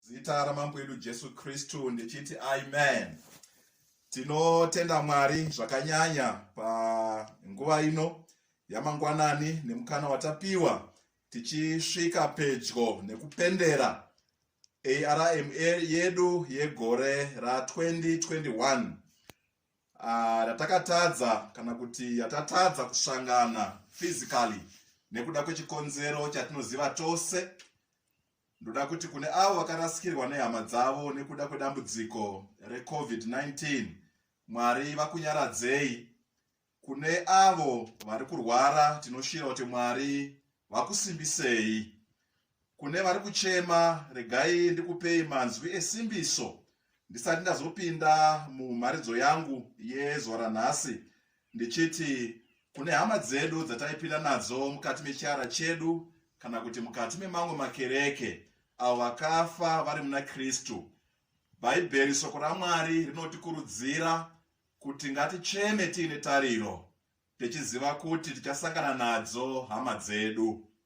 zita ramambo edu jesu kristu ndichiti amen tinotenda mwari zvakanyanya panguva ino yamangwanani nemukana watapiwa tichisvika pedyo nekupendera arm yedu yegore ra2021 ah, ratakatadza uh, kana kuti yatatadza kusangana physically nekuda kwechikonzero chatinoziva tose Ndoda kuti kune avo vakarasikirwa nehama dzavo nekuda kwedambudziko reCovid-19, Mwari vakunyaradzei. Kune avo vari kurwara, tinoshira kuti Mwari vakusimbisei. Kune vari kuchema, regai ndikupei manzwi esimbiso ndisati ndazopinda mumharidzo yangu yezuva ranhasi. ndichiti kune hama dzedu dzataipinda nadzo mukati mechiara chedu kana kuti mukati memamwe makereke avo vakafa vari muna kristu bhaibheri soko ramwari rinotikurudzira kuti ngaticheme tiine tariro tichiziva kuti tichasangana nadzo hama dzedu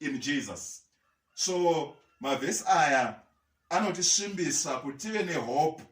in jesus so mavhesi aya anotisvimbisa kuti tive nehope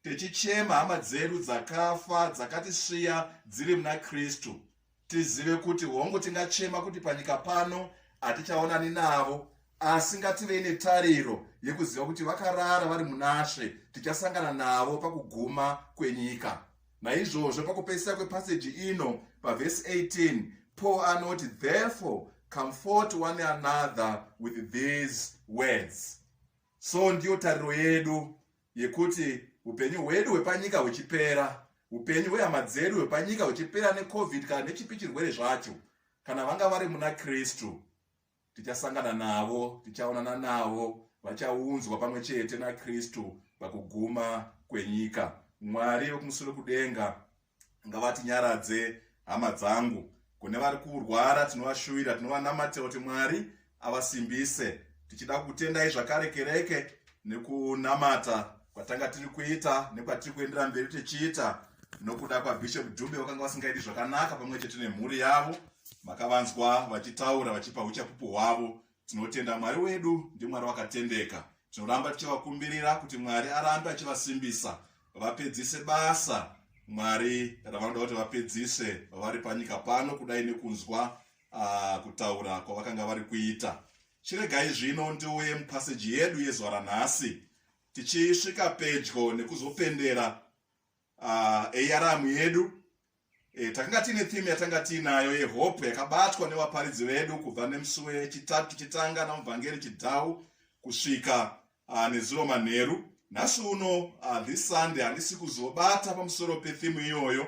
tichichema hama dzedu dzakafa dzakatisviya dziri muna kristu tizive kuti hongu tingachema kuti panyika pano hatichaonani navo asi ngativei netariro yekuziva kuti vakarara vari munashe tichasangana navo pakuguma kwenyika Naizvozvo pakupedzisira kwepaseji ino pavhesi 18 Paul anoti therefore comfort one another with these words. So ndiyo tariro yedu yekuti upenyu hwedu hwepanyika huchipera, upenyu hwehama dzedu hwepanyika huchipera necovid kana nechipi chirwere zvacho, kana vanga vari muna Kristu tichasangana navo tichaonana navo vachaunzwa pamwe chete nakristu pakuguma kwenyika mwari vekumusoro kudenga ngavatinyaradze hama dzangu kune vari kurwara tinovashuvira tinovanamata kuti mwari avasimbise tichida kutendai zvakare kereke nekunamata kwatanga tiri kuita nekwatiri kuendera mberi tichiita nokuda kwabishop dube vakanga vasingaiti zvakanaka pamwe chete nemhuri yavo makavanzwa vachitaura vachipa uchapupu hwavo tinotenda mwari wedu ndimwari wakatendeka tinoramba tichivakumbirira kuti mwari arambe achivasimbisa vapedzise basa mwari ravanoda kuti vapedzise vari panyika pano kudai nekunzwa uh, kutaura kwavakanga vari kuita Chiregai zvino ndiuye mupaseji yedu yezuva ranhasi tichisvika pedyo nekuzopendera uh, eyaramu yedu e, takanga tiine theme yatanga tiinayo yehope yakabatwa nevaparidzi vedu kubva nemusi wechitatu tichitanga namuvhangeri chidhau kusvika uh, nezuro manheru nhasi uno uh, this sunday handisi kuzobata pamusoro petheme iyoyo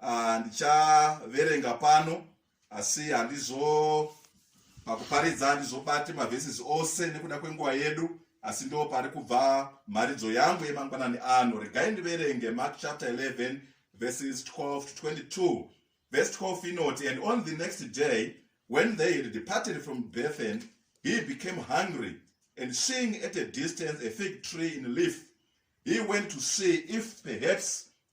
Ah, ndichaverenga pano asi handizo pakuparidza handizobati mavhesis ose nekuda kwenguva yedu asi ndo pari kubva mharidzo yangu yemangwanani ano regai ndiverenge mark chapter 11 verses 12 to 22 verse 12 inoti and on the next day when they had departed from bethan he became hungry and seeing at a distance a fig tree in leaf he went to see if perhaps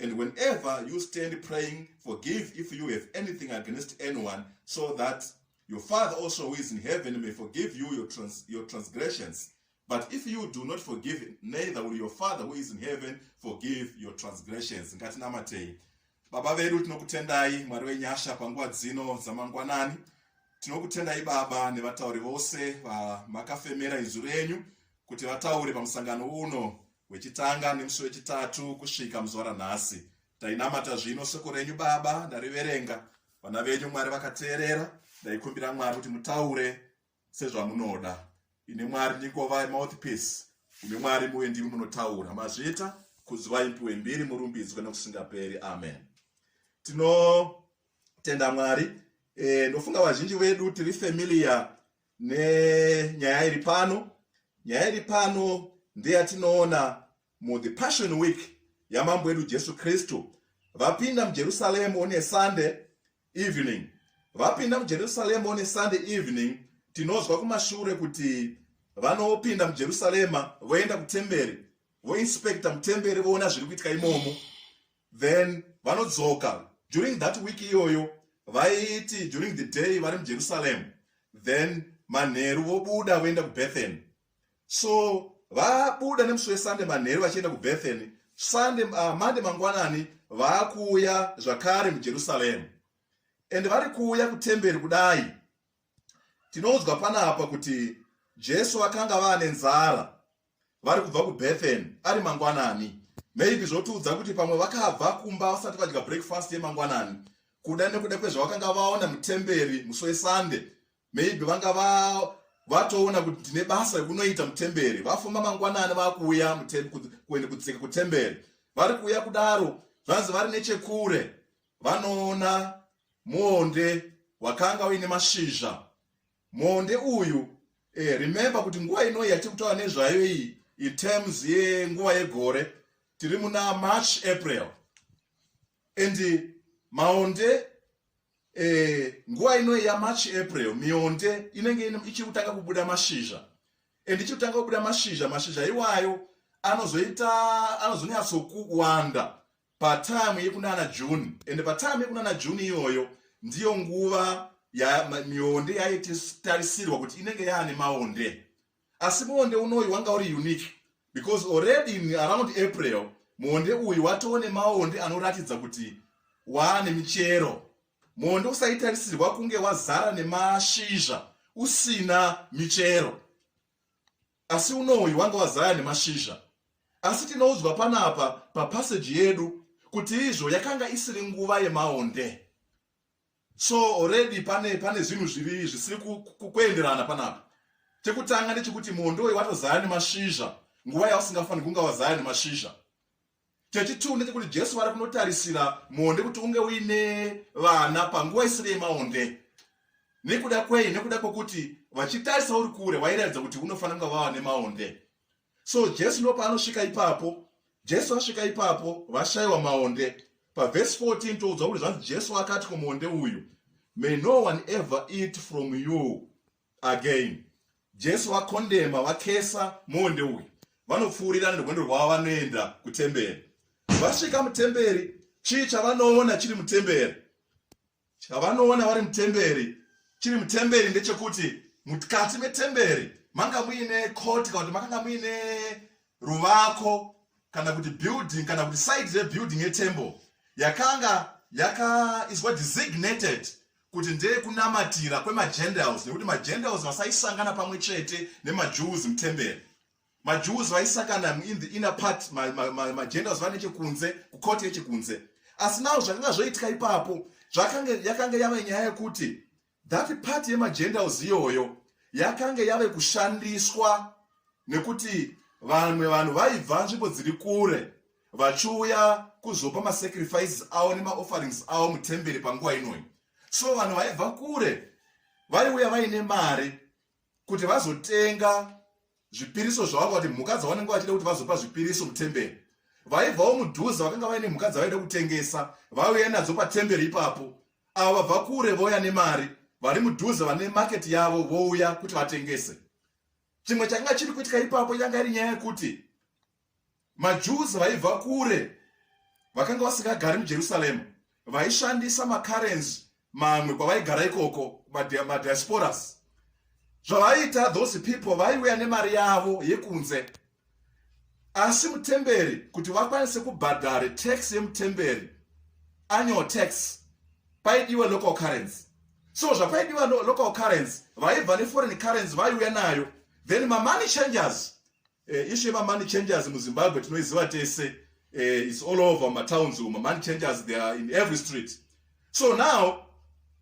And whenever you stand praying, forgive if you have anything against anyone, so that your Father also who is in heaven may forgive you your, trans your transgressions. But if you do not forgive, neither will your Father who is in heaven forgive your transgressions. Ngatinamatei. Baba vedu tinokutendai Mwari wenyasha panguva dzino dzamangwanani. Tinokutendai Baba nevatauri vose vamakafemera izwi renyu kuti vataure pamusangano uno wechitanga nemusi wechitatu kusvika muzuva ranhasi tainamata zvino soko renyu baba ndariverenga vana venyu mwari vakateerera ndaikumbira mwari kuti mutaure sezvamunoda ine mwari ndingova mouthpiece ine mwari muye ndimi munotaura mazvita kuziva impiwe mbiri murumbidzwe nokusingaperi amen tinotenda mwari e, ndofunga vazhinji vedu tiri familia nenyaya iri pano nyaya iri pano ndeyatinoona muthe passion week yamambo wedu jesu kristu vapinda mujerusaremu one sunday evening vapinda mujerusaremu one sunday evening tinonzwa kumashure kuti vanopinda mujerusarema voenda kutemberi voinspekta mutemberi voona zviri kuitika imomo then vanodzoka during that week iyoyo vaiti during the day vari mujerusalem then manheru vobuda voenda kubethany so vabuda nemusi wesande manheru vachienda kubethany sande uh, ah, mande mangwanani vaakuuya zvakare mujerusalem and vari kuuya kutemberi kudai tinoudzwa panapa kuti jesu vakanga vaane nzara vari kubva kubethen ari mangwanani maybe zvotiudza kuti pamwe vakabva kumba vasati vadya breakfast yemangwanani kuda nekuda kwezvavakanga vaona mutemberi musi wesunday maybe vanga va vatoona kuti ndine basa rekunoita mutemberi vafuma mangwanani vakuuya kuende kudzika kutemberi vari kuuya kudaro zvanzi vari nechekure vanoona muonde wakanga uine mashizha Monde uyu eh, remember kuti nguva ino yatiri kutaura nezvayo iyi in terms yenguva yegore tiri muna march april and maonde eh, nguva ino yamarch april mionde inenge ichiri kutanga kubuda mashizha and ichiri kutanga kubuda mashizha mashizha iwayo anozonyatsowanda patime yekunana june ende patime yekunana june iyoyo ndiyo nguva mionde yaititarisirwa kuti inenge yaane maonde asi muonde unoyu wanga uri unique because already in around april muonde uyu watoo nemaonde anoratidza kuti waane michero muonde usaitarisirwa kunge wazara nemashizha usina michero Asi uno uyu wanga wazaya nemashizha. Asi tinoudzwa panapa papaseji yedu kuti izvo yakanga isiri nguva yemaonde. So already pane pane zvinhu zviri zvisiri kuenderana panapa. Chekutanga ndechekuti muonde uyu watozaya nemashizha nguva yausingafaniri kunga wazaya nemashizha. Chechituu ndechekuti Jesu vari kunotarisira muonde kuti unge uine vana panguva isiri yemaonde. Nekuda kwei? Nekuda kwekuti vachitarisa uri kure vairatidza kuti unofanira kunge vava nemaonde. So Jesu ndo paanosvika ipapo, Jesu asvika ipapo vashayiwa maonde. Pavhesi 14 toudzwa kuti zvanzi Jesu akati kumuonde uyu, May no one ever eat from you again jesu vakondema vakesa monde uyu vanopfuurira nerwendo rwavo vanoenda kutemberi vasvika mutemberi chii chavanoona chiri mutemberi chavanoona vari mutemberi chiri mutemberi ndechekuti mukati metemberi manga muine koti kana kuti makanga muine ruvako kana kuti building kana kuti side rebuilding yetemple yakanga yakaiswa designated kuti ndeye kunamatira kwemagentiles nekuti magentiles vasaisangana pamwe chete nemajews mutemberi majews vaisakana in the inner part magentiles vane chekunze kukoti yechekunze asi nawo zvakanga zvoitika ipapo zvakange yakange yave nyaya yekuti that part yemagentiles iyoyo yakange yave kushandiswa nekuti vamwe vanhu vaibva nzvimbo dziri kure vachiuya kuzopa masacrifices avo nemaofferings avo mutemberi panguva inoyi so vanhu vaibva kure vaiuya vaine mari kuti vazotenga zvipiriso zvavo kuti mhuka dzavanenge vachida kuti vazopa zvipiriso mutemberi vaibvawo mudhuze vakanga vaine mhuka dzavaida kutengesa vauya nadzo patemberi ipapo avo vabva kure vouya nemari vari mudhuze vane maketi yavo vouya kuti vatengese chimwe chakanga chiri kuitika ipapo yanga iri nyaya yekuti maJews vaibva kure vakanga vasingagari muJerusalema vaishandisa makarenzi mamwe kwavaigara ikoko madiasporas zvavaiita those people vaiuya nemari yavo yekunze asi mutemberi kuti vakwanise kubhadhare tax yemutemberi annual tax paidiwa local currency so zvapaidiwa local currency vaibva neforeign currency vaiuya nayo then mamoney changers Eh, issue yema money changers mu Zimbabwe tinoiziva tese. Eh, it's all over ma towns umo. Money changers they are in every street. So now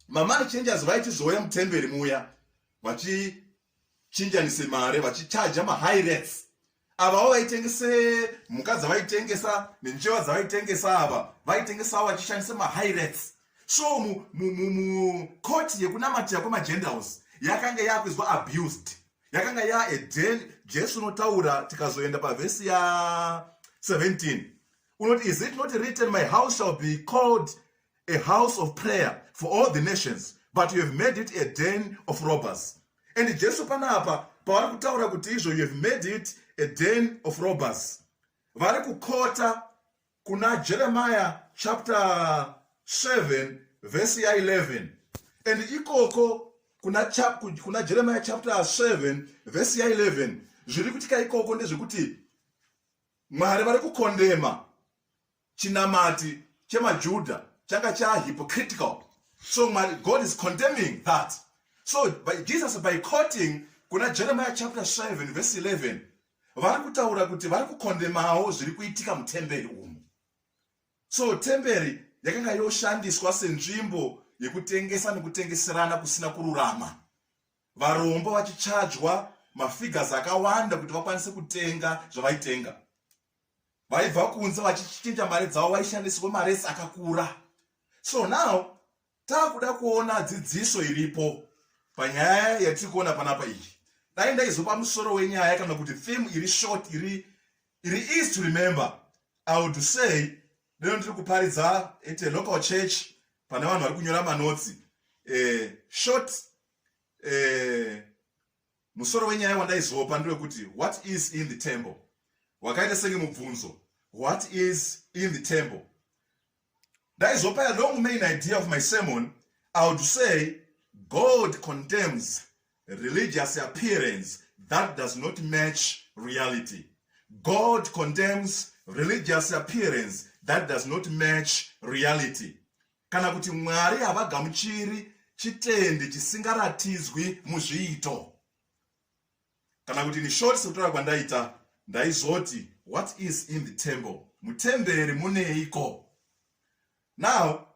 ma money changers vaitizouya mutemberi muya vachi chinjanise mare vachicharja mahigh rates avawo vaitengese mhuka dzavaitengesa nenjewa dzavaitengesa ava vaitengesawo vachishandisa mahigh rates so mukoti yekunamatira kwemagendals yakanga yakuizwa abused yakanga ya eden jesu unotaura tikazoenda pavhesi ya 17 unoti is it not written my house shall be called a house of prayer for all the nations but you have made it a den of robbers and jesu panapa pavari kutaura kuti izvo you have made it a den of robbers vari kukota kuna jeremiya chapter 7 vhesi ya 11 and ikoko kuna, chap, kuna jeremiya chapter 7 vhesi ya 11 zviri kutika ikoko ndezvekuti mwari vari kukondema chinamati chemajuda changa chahypocritical so mwari god is condemning that so by jesus by quoting kuna jeremiya chapter 7 vhesi 11 vari kutaura kuti vari kukondemawo zviri kuitika mutemberi umu so temberi yakanga yoshandiswa senzvimbo yekutengesa nekutengeserana kusina kururama varombo vachichajwa mafigures akawanda kuti vakwanise kutenga zvavaitenga vaibva kunze vachichinja mari dzavo vaishandisirwa maresi akakura so now takuda kuona dzidziso iripo panyaya yatiri kuona panapa iyi dai ndaizopa musoro wenyaya kana kuti theme iri short iri iri easy to remember i would say lero ndiri kuparidza at a local church pane vanhu vari kunyora manotsi eh, short eh, musoro wenyaya wandaizopa ndewekuti what is in the temple wakaita senge mubvunzo what is in the temple ndaizopa a long main idea of my sermon i would say god contemns religious appearance that does not match reality god contemns religious appearance that does not match reality kana kuti mwari havagamuchiri chitende chisingaratidzwi muzviito kana kuti in short sekutaura kwandaita ndaizoti what is in the temple mutemberi muneiko now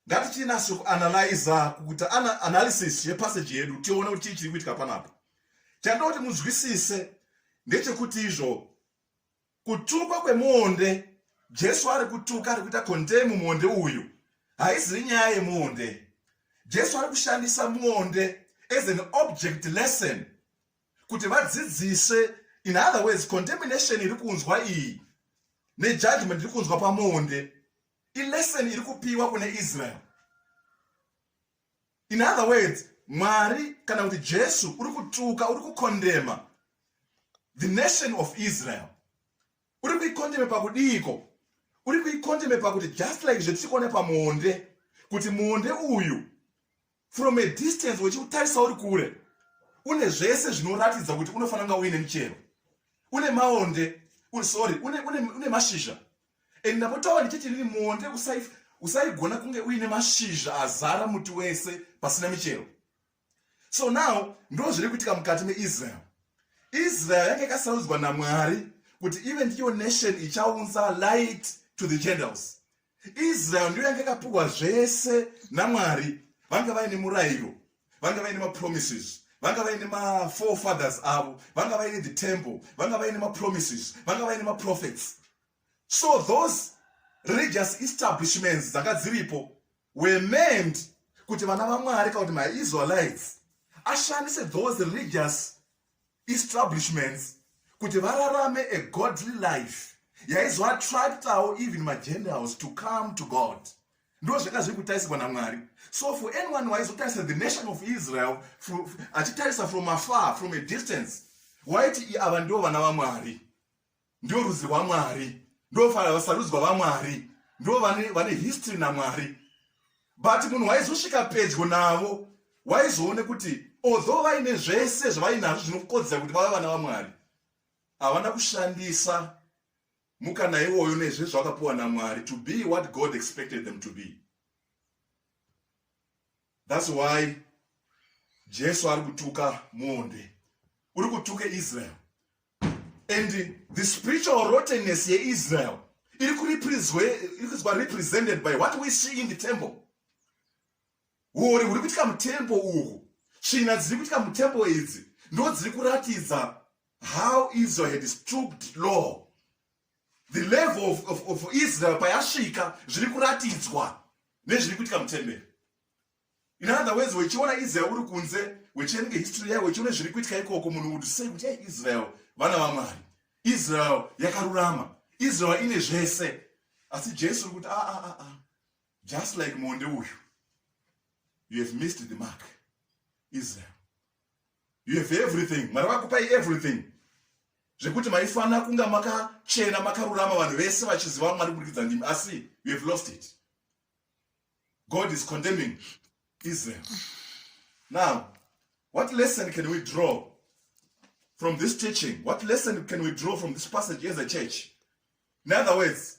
ngatichiinaso kuanalyza kuti ana analysis yepassage yedu tione kuti chii chiri kuitika panapa chandoti munzwisise ndechekuti izvo Kutukwa kwemuonde. Jesu ari kutuka, ari kuita condemn muonde uyu. Haizivi nyaya yemuonde. Jesu ari kushandisa muonde as an object lesson kuti vadzidzise. In other words, condemnation iri kunzwa iyi nejudgment iri kunzwa pamuonde ilesson iri kupiwa kune Israel. in other words mwari kana kuti jesu uri kutuka uri kukondema the nation of israel uri kuikondeme pakudiiko uri kuikondeme pakuti just like zvetichikuona pamuonde kuti muonde uyu from a distance wechiutarisa uri kure une zvese zvinoratidza kuti unofanira kunga uine michero une maonde sorry une, une, une mashizha and ndapotawa ndichiti inini muonde usaigona kunge uine mashizha azara muti wese pasina michero so now ndo zviri kuitika mukati meisrael israel yange yakasarudzwa namwari kuti ive ndiyo nation ichaunza light to the gentiles israel ndiyo yange yakapiwa zvese namwari vanga vaine murayiro vanga vaine mapromises vanga vaine maforefathers avo vanga vaine the temple vanga vaine mapromises vanga vaine maprophets so those religious establishments dzanga dziripo were meant kuti vana vamwari kana kuti maisraelites ashandise those religious establishments kuti vararame a godly life yaizoattractawo even magentiles to come to god ndozvanga zviri kutarisirwa namwari so for anyone waizotarisa the nation of israel achitarisa from afar from a distance waiti ava ndo vana vamwari ndio rudzi rwamwari ndo vasarudzwa vamwari ndo vane history namwari but munhu waizosvika pedyo navo waizoone kuti although vaine zvese zvavainazvo zvinokodzera kuti vave vana vamwari havana kushandisa mukana iwoyo nezvezvo akapiwa namwari to be what god expected them to be thats why jesu ari kutuka mwonde uri kutuka israel and the spiritual rottenness yeisrael iri kuizwa represented by what we see in the temple Huori huri kuitika mutembo uhu, tsvina dziri kuitika mutembo idzi ndo dziri kuratidza how Israel had stooped low. The level of, of, of Israel payasvika zviri kuratidzwa nezviri kuitika mutemberi. In other words, wechiona Israel uri kunze, wechierenga history yayo, wechiona zviri kuitika ikoko, munhu would say kuti hey, Israel vana vaMwari, Israel yakarurama, Israel ine zvese. Asi Jesu uri kuti a ah, a ah, a ah, a Just like Monde uyu. You have missed the mark. Israel. You have everything. Mwari vakupai everything. Zvekuti maifanira kunga makachena makarurama vanhu vese vachiziva Mwari kuburikidza ndimi asi you have lost it. God is condemning Israel. Now, what lesson can we draw from this teaching? What lesson can we draw from this passage as a church? In other words,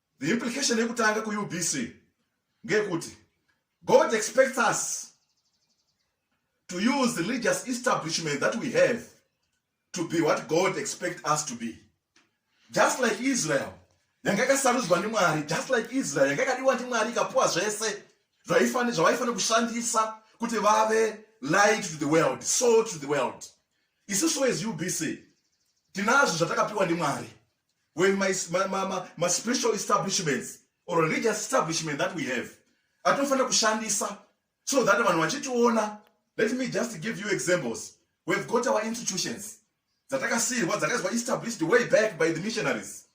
The implication yekutanga kuUBC ngeyekuti God expects us to use the religious establishment that we have to be what God expects us to be. Just like Israel yanga yakasarudzwa ndiMwari, just like Israel yanga yakadiwa ndiMwari ikapuwa zvese zvavaifanira kushandisa kuti vave light to the world, salt to the world. Isusu as UBC tinazvo zvatakapiwa ndiMwari when my, my, my, my, my spiritual establishments or religious establishment that we have atinofanira kushandisa so that vanhu vachitiona let me just give you examples we've got our institutions dzatakasiyirwa dzakaizwa established way back by the missionaries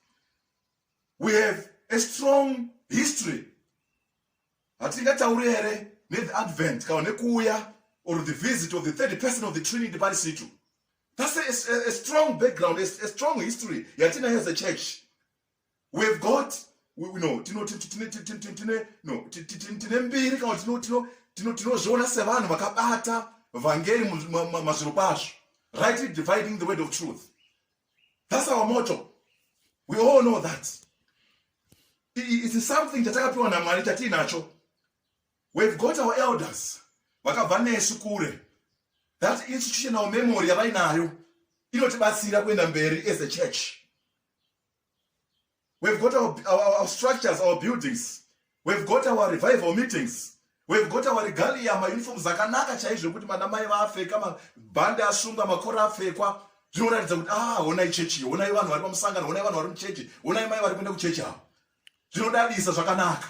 we have a strong history hatingatauri here netheadvent kana nekuuya or the visit of the third person of the trinity parisitu That's a, a, a strong background, a, a strong history yatinayo as a church. We've got we, we know tino tine tine tine no tine mbiri kana tino tino tino tinozviona sevanhu vakabata vhangeri mazviro kwazvo rightly dividing the word of truth that's our motto we all know that it's something chatakapiwa namwari chatiinacho We've got our elders vakabva nesu kure. That institutional memory yavainayo inotibatsira kuenda mberi as a church. We've got our, our, our structures, our buildings. We've got our revival meetings. We've got our regalia, mauniform zakanaka chaizvo kuti mana mai vaapfeka, mabhande asungwa, makora apfekwa. Zvinoratidza kuti ah, honai chechi, honai vanhu vari pamusangano, honai vanhu vari muchechi, honai mai vari kuenda kuchechi avo. Zvinodadisa zvakanaka.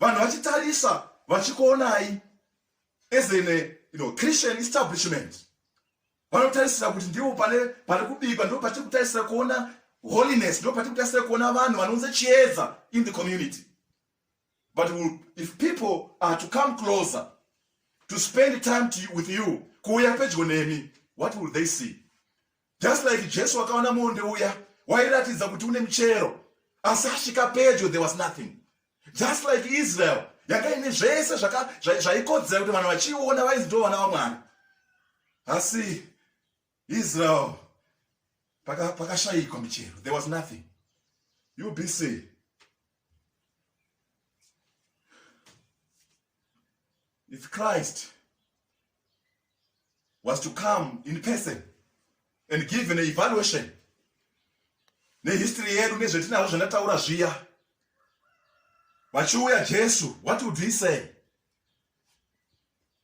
vanhu vachitarisa vachikuonai as an you know, christian establishment vanotarisira kuti ndivo pane pari kubikwa ndipo patiri kutarisira kuona holiness ndipo patiri kutarisira kuona vanhu vanounza chiedza in the community but we'll, if people are to come closer to spend time to, with you kuuya pedyo nemi what will they see Just like Jesu akaona muonde uya wairatidza kuti une michero asi asvika pedyo there was nothing. Just like Israel yanga ine zvese zvaikodzera kuti vanhu vachiiona vainzi ndo vana vaMwari. Asi Israel pakashayikwa michero there was nothing. You be safe. If Christ was to come in person and give an evaluation nehistory yedu nezvetinazvo zvandataura zviya vachiuya jesu what would he say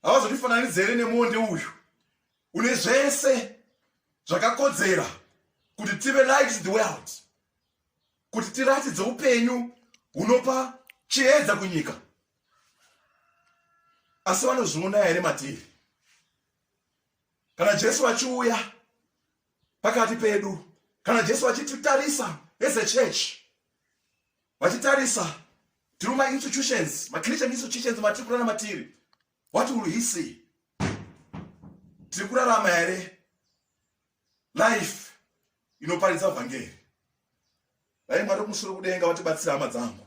havazotifananidza here nemonde uyu une zvese zvakakodzera kuti tive light the world kuti tiratidze upenyu hunopa chiedza kunyika asi vanozviona here matiri kana jesu vachiuya pakati pedu kana jesu vachititarisa as a church vachitarisa tiri mainstitutions machristian institutions matiri kurana matiri what will he see tiri kurarama here life inoparidza vhangeri dai mwari kumusoro kudenga vatibatsira hama dzangu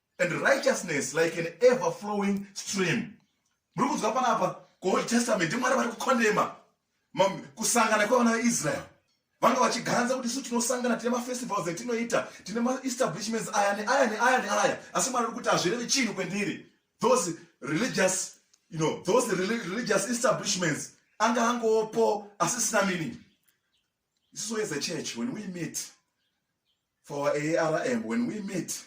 and righteousness like an ever flowing stream muri kunzwa panapa kuold testament mwari vari kukondema kusangana kwevana veisrael vanga vachiganza kuti isu tinosangana tine mafestivals etinoita tine maestablishments aya neaya neaya neaya asi mwari uri kuti hazvirevi chinhu kwendiri those religious you know those religious establishments anga angopo asisina meaning this is where the church when we meet for our ARM when we meet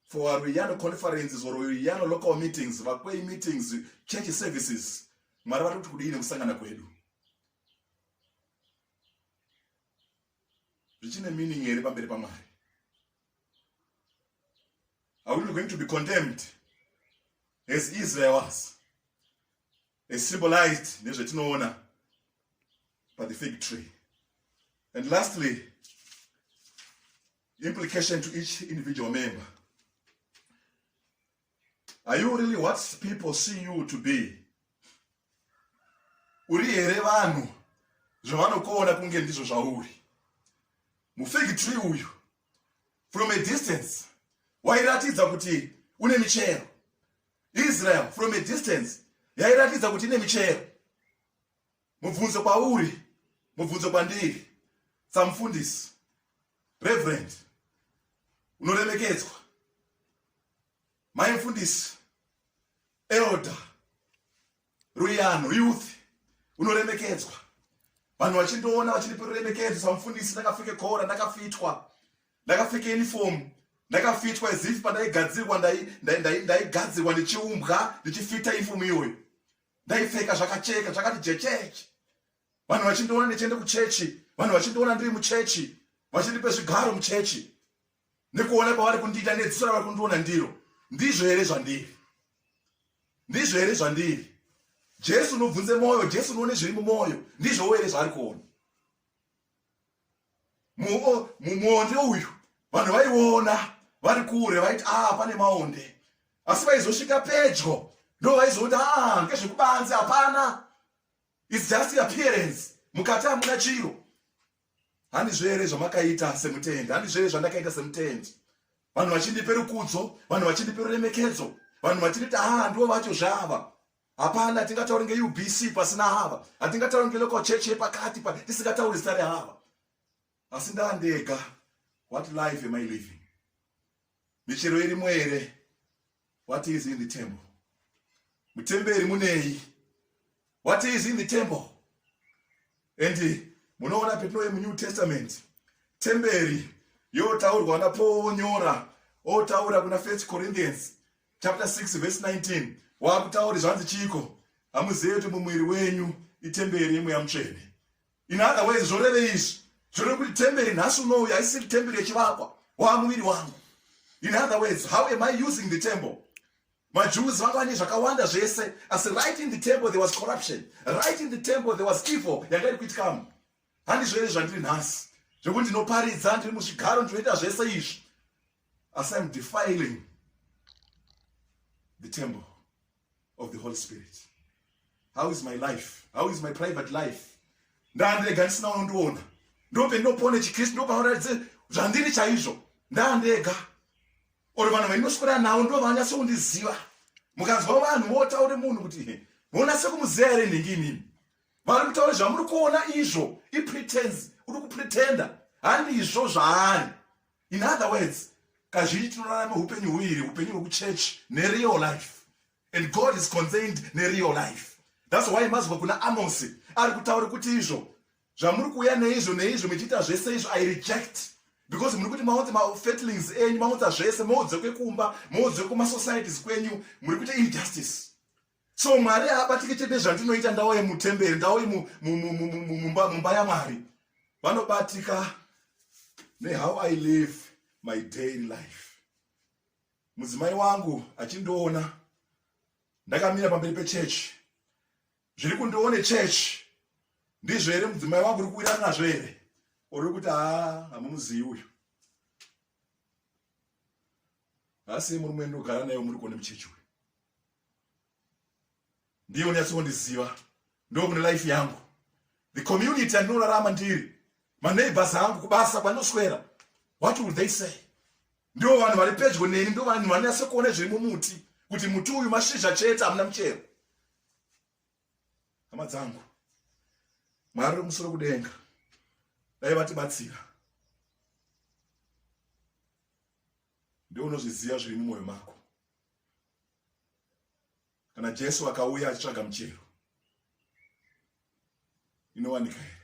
for our Ruyano conferences or Ruyano local meetings, Vakwei meetings, church services. Mwari vari kuti kudii nekusangana kwedu? Zvichine meaning here pamberi paMwari? Are we going to be condemned as Israel was? is symbolized nezvetinoona by the fig tree. And lastly, implication to each individual member. Are you really what people see you to be? Uri here vanhu zvavanokuona kunge ndizvo zvauri? Mufig tree uyu from a distance wairatidza kuti une michero Israel from a distance yairatidza kuti ine michero. Mubvunzo kwauri, mubvunzo kwandiri, samufundisi, reverend, unoremekedzwa, mai mfundisi, elder, Ruyano youth unoremekedzwa vanhu vachindoona vachindipa ruremekedzo samufundisi ndakapfeke kora ndakafitwa ndakapfeke uniform ndakafitwa as if pandaigadzirwa ndaigadzirwa ndichiumbwa ndichifita uniform iyoyo ndaipfeka zvakacheka zvakati jecheche vanhu vachindiona ndichienda kuchechi vanhu vachindiona ndiri muchechi vachindipe zvigaro muchechi nekuona kwavari kundiita nedziso ravari kundiona ndiro ndizvo here zvandiri ndizvo here zvandiri jesu unobvunze mwoyo jesu unoone zviri mumwoyo ndizvowo here zvaari kuona mumwonde uyu vanhu vaiona vari kure vaiti a ah, pane maonde asi vaizosvika pedyo ndo vaizoona a ah, ngezvekubanze hapana It's just appearance. Mukati hamuna chiro. Handizvo here zvamakaita semutendi? Handizvo here zvandakaita semutendi? Vanhu vachindipe rukudzo, vanhu vachindipe ruremekedzo, vanhu vachinditi ah ndivo vacho zvava. Hapana hatingatauri ngeUBC pasina hava. Hatingatauri ngelocal church yepakati tisingatauri zita rehava. asi ndandega what life am i living michero irimo here what is in the temple mutemberi munei what is in the temple and munoona petinouye munew testament temberi yotaurwa napaul onyora otaura kuna first corinthians chapter 6 verse 19 waakutauri zvanzi chiiko hamuzive kuti mumwiri wenyu itemberi yemweya mutsvene In other words, zvorevei izvi? Zvoreva kuti temberi nhasi unouyu haisiri temberi yechivakwa waamuviri wangu. In other words, how am I using the temple? majews vanga vane zvakawanda zvese asi right in the temple there was corruption right in the temple there was evil yanga iri kuitikamo handizvo here zvandiri nhasi zvekuti ndinoparidza ndiri muzvigaro ndinoita zvese izvi asi im defiling the temple of the holy spirit how is my life how is my private life ndandirega ndisina unondiona ndope ndinopone chikristu ndopauratidze zvandiri chaizvo ndandega or vanhu vainoswera navo ndo vanyase kundiziva mukanzwa vanhu votaure munhu kuti vonase kumuziva here nhingi inini vari kutaura zvamuri kuona izvo ipretens uri kupretenda handizvo zvaari in other words kazhinji tinorarama upenyu huiri upenyu hwekuchurch nereal life and god is concerned nereal life thats why mazwa kuna amosi ari kutaura kuti izvo zvamuri kuuya neizvo neizvo muchiita zvese izvo i reject because muri kuti maunze mafetlings enyu maunza zvese moudze kwekumba moudze kumasocieties kwenyu muri kuita injustice so mwari haabatike chete zvandinoita ndauye mutemberi ndauye mumba yamwari vanobatika nehow i live my daily life mudzimai wangu achindiona ndakamira pamberi pechechi zviri kundione chechi ndizvo here mudzimai wangu uri kuwirana nazvo here uri kuti haa hamumuzivi uyu asi murume ndogara naye muri kuone muchechi uyu ndiye unyatso kundiziva ndokune life yangu the community andinorarama ndiri maneighbors angu kubasa kwanoswera what will they say ndivo vanhu vari pedyo neni ndo vanhu vanonyatso kuona zviri mumuti kuti muti uyu mashizha chete hamuna muchero hama dzangu mwari remusoro kudenga dai vatibatsira ndeunozviziva zviri mumwoyo mako kana jesu akauya achitsvaga muchero inowanika here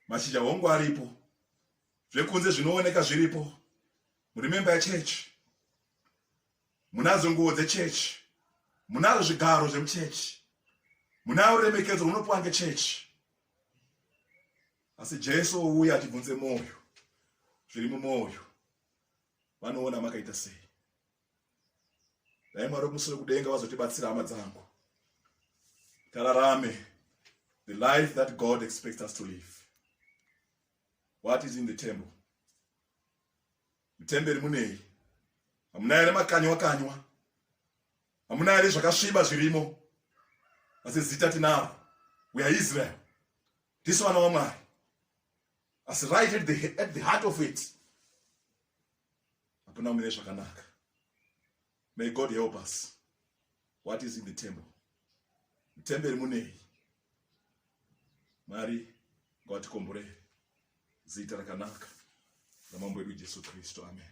mashizha hongu aripo zvekunze zvinooneka zviripo murimemba yechechi munazo nguo dzechechi munazvo zvigaro zvemuchechi munayo ruremekedzo runopiwa ngechechi asi jesu ouya achibvunze mwoyo zviri mumwoyo vanoona makaita sei dai mwari wekumusoro kudenga vazotibatsira hama dzangu tararame the life that god expects us to live what is in the temple mutemberi munei hamuna here makanywa kanywa hamuna here zvakasviba zvirimo asi zita tinaro we are israel tisu vana vamwari asi right at the, at the heart of it hapana umire zvakanaka may god help us what is in the temple mutemberi munei mwari ngawatikomborei zita rakanaka ramambo edu jesu kristu amen